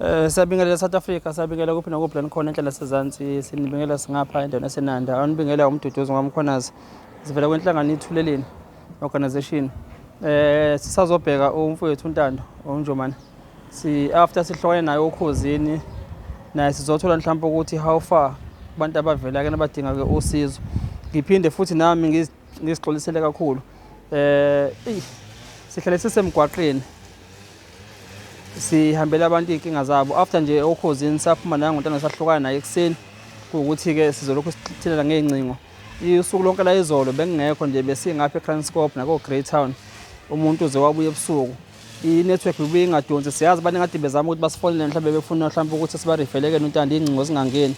Eh siyabingelela South Africa siyabingelela kuphi nakuphi la nikhona enhlala sezansi sinibingelela singapha endaweni esenanda anibingelela umduduzi ngomkhonazi sivela kwenhlangano ithuleleni organization eh sisazobheka umfowethu uNtando uNjomane si after sihlokane naye okhozini naye sizothola mhlawumbe ukuthi how far abantu abavela ke nabadinga ke usizo ngiphinde futhi nami ngizixolisele kakhulu eh sihlale sisemgwaqeni sihambela abantu iy'nkinga zabo after nje okhozini saphuma naye ngontana sahlukana naye ekuseni kuwukuthi-ke sizolokhu sithilela ngey'ncingo usuku lonke la izolo bengingekho nje besingapha ekranscop nakoo-greytown umuntu uze wabuye ebusuku i-network ibuye ingadonsi siyazi abantu engathi bezama ukuthi basifonele mhlawumbe befuna mhlawumbe ukuthi sibarifelekele untando iy'ncingo zingangeni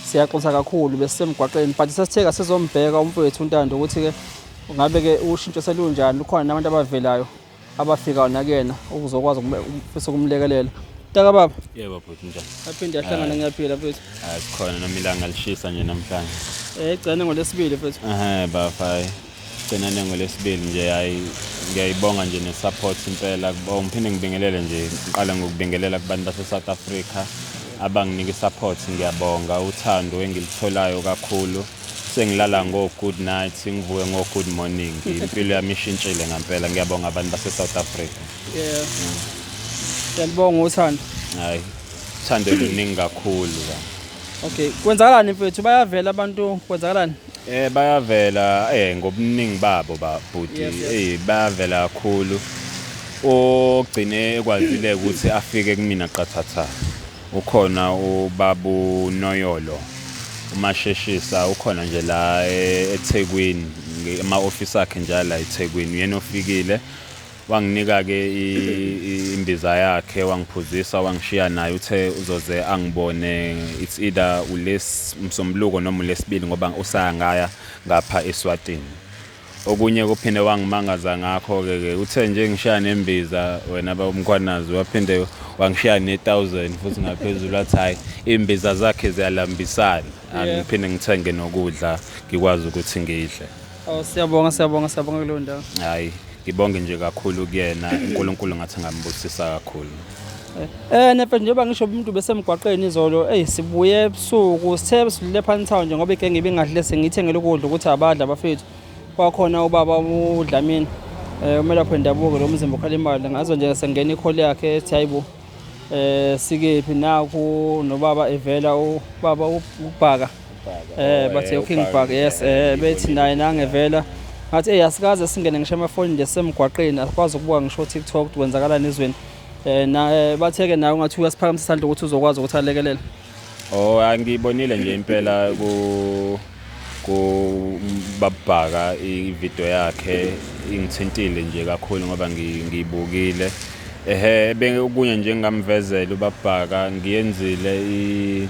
siyaxosa kakhulu besisemgwaqeni but sesitheka sizombheka umfowethu untando ukuthi-ke ngabe-ke ushintsho selunjani lukhona nabantu abavelayo abafika nakuyena ukuzokwazi ukufisa ukumlekelela taka baba yebo bhuti njani aphinde ahlangana ngiyaphila mfethu hayi sikhona noma ilanga lishisa nje namhlanje eh igcine ngolesibili mfethu ehe bafa gcina nengolesibili nje hayi ngiyayibonga nje nesupport impela oh, ngiphinde ngibingelele nje ngiqale ngokubingelela kubantu base-south africa abanginika isupport ngiyabonga uthando engilitholayo kakhulu Sengilala ngo good night, ngivuke ngo good morning. Impilo yami ishintshile ngampela. Ngiyabonga abantu base South Africa. Yeah. Ngiyabonga uthando. Hayi. Thando luningi kakhulu la. Okay, kwenzakalani mfethu? Bayavela abantu kwenzakalani? Eh bayavela eh ngobuningi babo ba bhuti. Yes, yes. Eh bayavela kakhulu. Ogcine ekwazile ukuthi afike kumina qathatha. Ukhona ubabu Noyolo umasheshisa ukhona nje la e, eThekwini ema office akhe nje la eThekwini uyena ofikile wanginika ke imbiza yakhe wangiphuzisa wangishiya naye uthe uzoze angibone it's either ules msombuluko noma ulesibili ngoba usaya ngaya ngapha eSwatini Okunye kuphinde wangimangaza ngakho-ke ke uthe nje ngishaya nembiza wena bawumkhwanazi waphinde wangishaya ne-thousand futhi ngaphezulu athi hhayi iy'mbiza zakhe ziyalambisana angiphinde ah, ngithenge nokudla ngikwazi ukuthi ngidle oh siyabonga siyabonga siyabonga kuleyo ndawo hhayi ngibonge nje kakhulu kuyena unkulunkulu ngathi angambusisa kakhulu Eh nefethu njengoba ngisho umuntu besemgwaqeni izolo eyi sibuye ebusuku sithe sidlule phansi town nje ngoba igenge ibingadle sengithengele ukudla ukuthi abadla bafethu kwakhona ubaba uDlamini eh umelaphi wendabuko lo mzimba ukhala imali ngazo nje sengena ikholi yakhe ethi hayibo eh sikephi naku nobaba evela ubaba ubhaka eh oh, bathe eh, uking bag yes eh bethi naye nangevela ngathi hey asikaze singene ngisho amafoni nje semgwaqeni asikwazi ukubuka ngisho TikTok ukuthi kwenzakalani ezweni eh na eh, batheke nawe ngathi uyasiphakamisa isandla ukuthi uzokwazi ukuthi alekelele oh angibonile nje impela ku ku babhaka ivideo yakhe ingithintile nje kakhulu ngoba ngiyibukile ehe bengokunye nje ngamvezela ubabhaka ngiyenzile i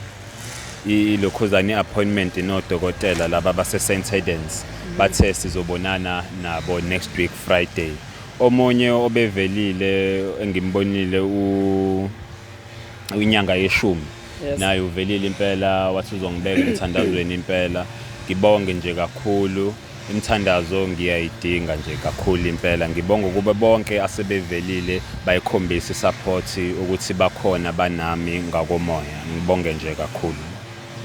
ilokhuzane appointment nodokotela laba base St Hedens mhm. bathe sizobonana nabo next week Friday omunye obevelile engimbonile u inyanga yeshumi naye uvelile impela wathi uzongibeka emthandazweni impela ngibonge nje kakhulu Imithandazo ngiyayidinga nje kakhulu impela. Ngibonga ukuba bonke asebevelile bayikhombisa i-support ukuthi bakhona banami ngakomoya. Ngibonge nje kakhulu.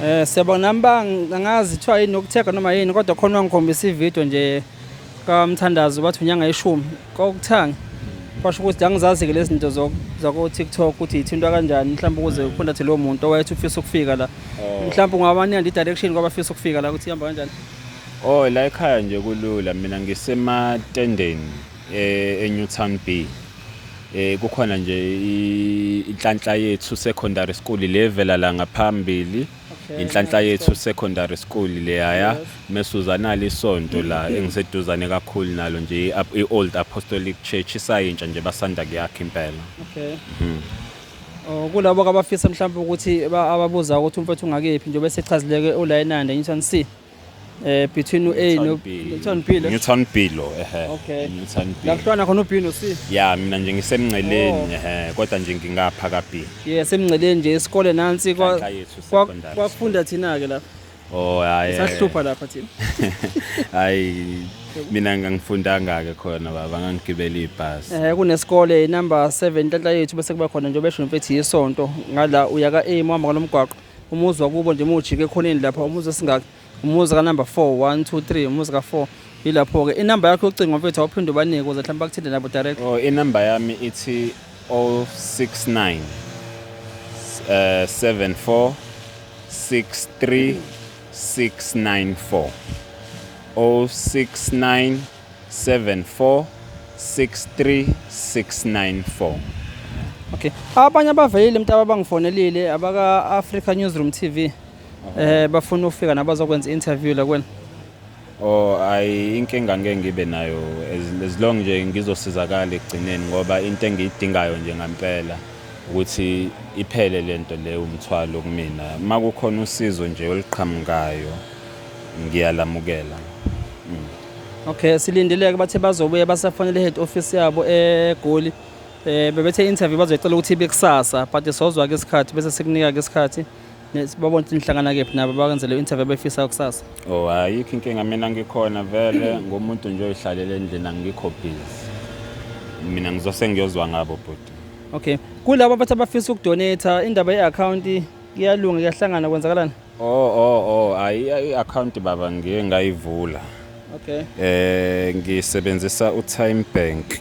Eh siyabona nami ba angazi kuthiwa yini ukuthega noma yini kodwa khona wangikhombisa i-video nje kamthandazo bathi unyanga ishumi kokuthanga kwasho ukuthi angizazi-ke lezi zinto zako-tiktok ukuthi yithintwa kanjani mhlawumbe ukuze ukhondathe lowo muntu owayethi ufisa ukufika la mhlawumbe ungabaniya nje i-direction kwabafisa ukufika la ukuthi ihamba kanjani Oh la ekhaya nje kulula mina ngisematendeni eh, eNewtown B. Eh kukhona nje inhlanhla yethu secondary school levela la ngaphambili. Inhlanhla yethu secondary school leyaya mesuzana lisonto la engiseduzane kakhulu nalo nje i-Old Apostolic Church isayintsha nje basanda kuyakha impela. Okay. Mhm. Oh, kulabo abafisa mhlawumbe ukuthi ababuza ukuthi umfethu ungakephi njengoba esechazileke ula enanda ngithani si eh between u-A no ngithani Bilo ngithani Bilo ehe okay ngithani Bilo lakuhlwana khona u-B no C ya mina nje ngisemnceleni oh. ehe kodwa nje ngingapha ka B yes emnceleni nje isikole nansi kwa kwafunda thina ke lapha Oh hayi. Sahlupha lapha thina. Hayi mina ngangifundanga ke khona baba ngangigibela ibhasi. Eh kunesikole number 7 inhlanhla yethu bese kuba khona nje besho mfethu yisonto ngala uya ka A mama kalomgwaqo umuzi wakubo nje mujike ekhoneni lapha umuzi esingaka umuzi ka number 4 1 2 3 umuzi ka 4 yilapho ke inamba yakho yocingo mfethu awuphinde ubanike ukuze mhlawumbe bakuthinte nabo direct. Oh inamba yami ithi Okay. Abanye abaveyile mntaba abangifonelile abaka Africa Newsroom TV. Eh bafuna ukufika nabazokwenza interview la kwena. Oh ayi inkinga ngeke ngibe nayo as long nje ngizosizakala ekugcineni ngoba into engiyidingayo nje ngampela ukuthi iphele lento leyo umthwalo kumina makukhona usizo nje oliqhamukayo ngiyalamukela mm. okay silindeleke bathe bazobuye basafonele head office yabo egoli eh bebethe interview bazoyicela ukuthi ibe kusasa but sozwa ke isikhathi bese sikunika ke isikhathi Babona ukuthi nihlangana kephi nabo bakwenzele interview befisa kusasa. Oh ayikho inkinga mina ngikhona vele ngomuntu nje oyihlalele endlini angikho busy. Mina ngizose ngiyozwa ngabo bhuti. Okay. Kulabo abathi abafisa ukudonate indaba ye-account iyalunga kuyahlangana kwenzakalani? Oh oh oh ayi i-account baba ngiye ngayivula. Okay. Eh ngisebenzisa uTime Bank.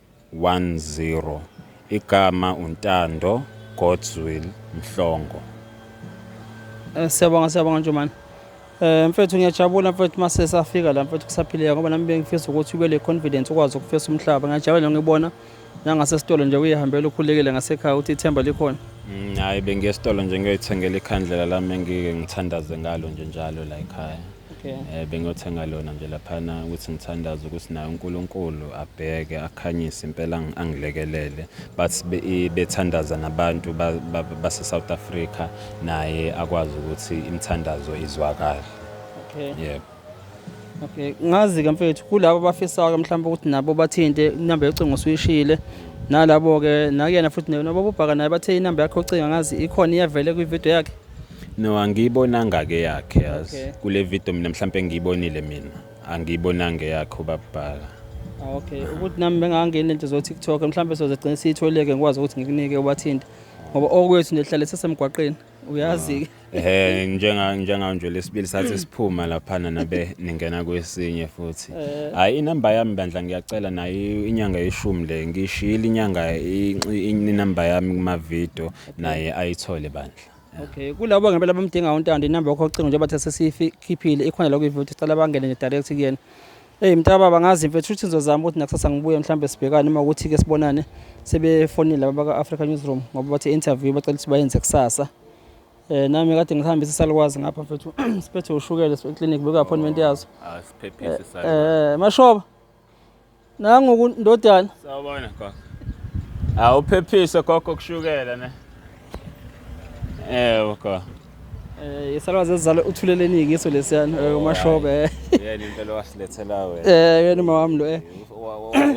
10 Igama uNtando Godswill Mhlongo. Eh, siyabonga siyabonga Njomane. Eh mfethu ngiyajabula mfethu mase safika la mfethu kusaphileka ngoba nami bengifisa ukuthi ube le confidence ukwazi ukufesa umhlaba. Ngiyajabula ngibona nangase sitolo nje uyihambela ukhulekele ngasekhaya uthi ithemba likhona. Mm, hayi bengiye esitolo nje ngiyoyithengela ikhandlela lami engike ngithandaze ngalo nje njalo la ekhaya. okay. eh, bengiyothenga lona nje laphana ukuthi ngithandaze ukuthi naye uNkulunkulu abheke akhanyise impela ang- angilekelele but be- i- bethandaza nabantu ba- ba- base-south africa naye akwazi ukuthi imithandazo izwakale okay. yebo Okay, ngazi-ke mfethu kulabo abafisayo mhlawumbe ukuthi nabo bathinte inamba yocingo usuyishile nalabo-ke nakuyena futhi nabo bobhaka naye bathe inamba yakho ocinga ngazi ikhona iyavele kwividiyo yakhe No angiyibonanga ke yakhe yazi. Okay. Kule video mina mhlambe ngiyibonile mina. Angiyibonanga eyakhe ubabhala. Ah, okay ukuthi nami bengangeni lento zo TikTok mhlawumbe sozegcina siyitholeke ngikwazi ukuthi ngikunike ubathinte ngoba okwethu nje hlale sesemgwaqeni uyazi ke Ehhe njenga njenga nje lesibili sathi siphuma lapha nabe ningena kwesinye futhi. Eh. Hayi inamba yami bandla ngiyacela nayo inyanga yeshumi le ngishiyile inyanga inamba yami kuma video naye ayithole bandla Okay, kulabo ngempela bamdinga uNtando inamba yakho ocingo njengoba thathe sikhiphile ikhona la kuyivuthi sicela bangene nje direct kuyena. Hey mntaba bangazi mfethu uthi ngizozama ukuthi nakusasa ngibuye mhlawumbe sibhekane uma ukuthi ke sibonane sebefonile laba baka Africa Newsroom ngoba bathi interview bacela ukuthi bayenze kusasa. Eh nami kade ngihambisa salukwazi ngapha mfethu siphethe ushukela sibeclinic beka appointment yazo. asiphephise Eh, sala eh mashoba nangu ndodana sawubona gogo awuphephise gogo kushukela ne ewe gogo Eh isalwa zezizalo uthuleleni ngiso lesiyana eh, umashobe. Eh. Yena impela wasilethela wena. Eh yena uma wami lo eh.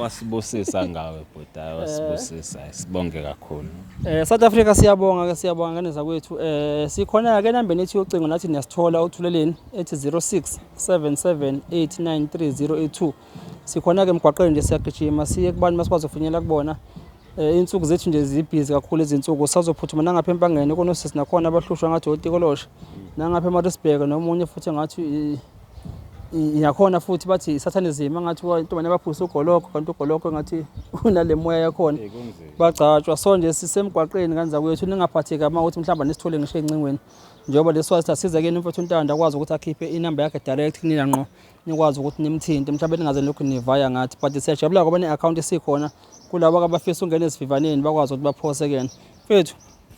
Wasibusisa ngawe bhuti, eh. wasibusisa. Sibonge kakhulu. Eh South Africa siyabonga ke siyabonga ngane zakwethu. Eh sikhona ke nambeni ethi yocingo nathi niyasithola uthuleleni ethi 06 0778930082 sikhona ke emgwaqeni nje siyagijima siye kubantu masikwazi ukufinyelela kubona eh, insuku zethu nje zibhizi kakhulu izinsuku sazophuthuma nangapha empangeni konosisi nakhona abahlushwa ngathi otikoloshe nangapha emarisburg nomunye futhi ngathi yakhona futhi bathi isathanism angathi intombane abaphuse ugoloko kanti ugoloko engathi unale moya yakhona bagcatshwa so nje sisemgwaqeni kanzakwethu ningaphatheki uma ukuthi mhlawumbe nisithole ngisho encingweni njengoba lesi wathi asize kini mfethu uNtanda akwazi ukuthi akhiphe inamba yakhe direct kunina ngqo nikwazi ukuthi nimthinte mhlawumbe ningaze nilokhu nivaya ngathi but siyajabula ngoba ne-account isikhona kulabo abafisa ungena esivivaneni bakwazi ukuthi baphose kuyena mfethu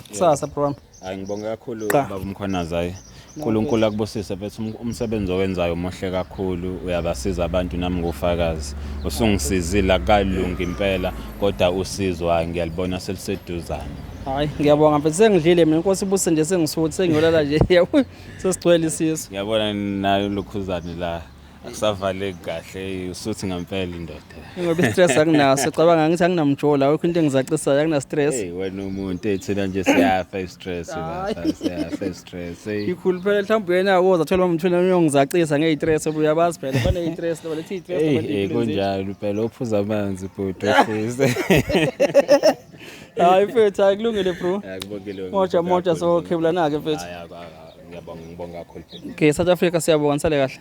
kusasa bro wami hayi ngibonge kakhulu baba umkhwanazi hayi unkulunkulu akubusise mfethu um-, umsebenzi owenzayo muhle kakhulu uyabasiza abantu nami ngufakazi usungisizile akalungi impela kodwa usizo hayi ngiyalibona seliseduzane Hayi ngiyabonga mfethu sengidlile mina inkosi ibuse nje sengisuthi sengiyolala nje yawu sesigcwele isisu. Ngiyabona nayo lokhuzane la akusavaleki kahle usuthi ngempela indoda. Ngoba istress anginaso cabanga ngithi anginamjola awukho into engizacisayo akuna stress. Hey wena umuntu ethina nje siyafa istress la siyafa istress. Hey Ikhulu phela mhlawumbe yena uyoza thola umthuna uyongizacisa ngeyistress uyabazi phela bane istress lo lethi istress hey hey kunjalo phela ophuza amanzi bhuti ofise. Hayi mfethu hayi kulungile bro. Akubongile. Moja moja so khebulana ke mfethu. Hayi akwa ngiyabonga ngibonga kakhulu. Okay South Africa siyabonga nisale kahle.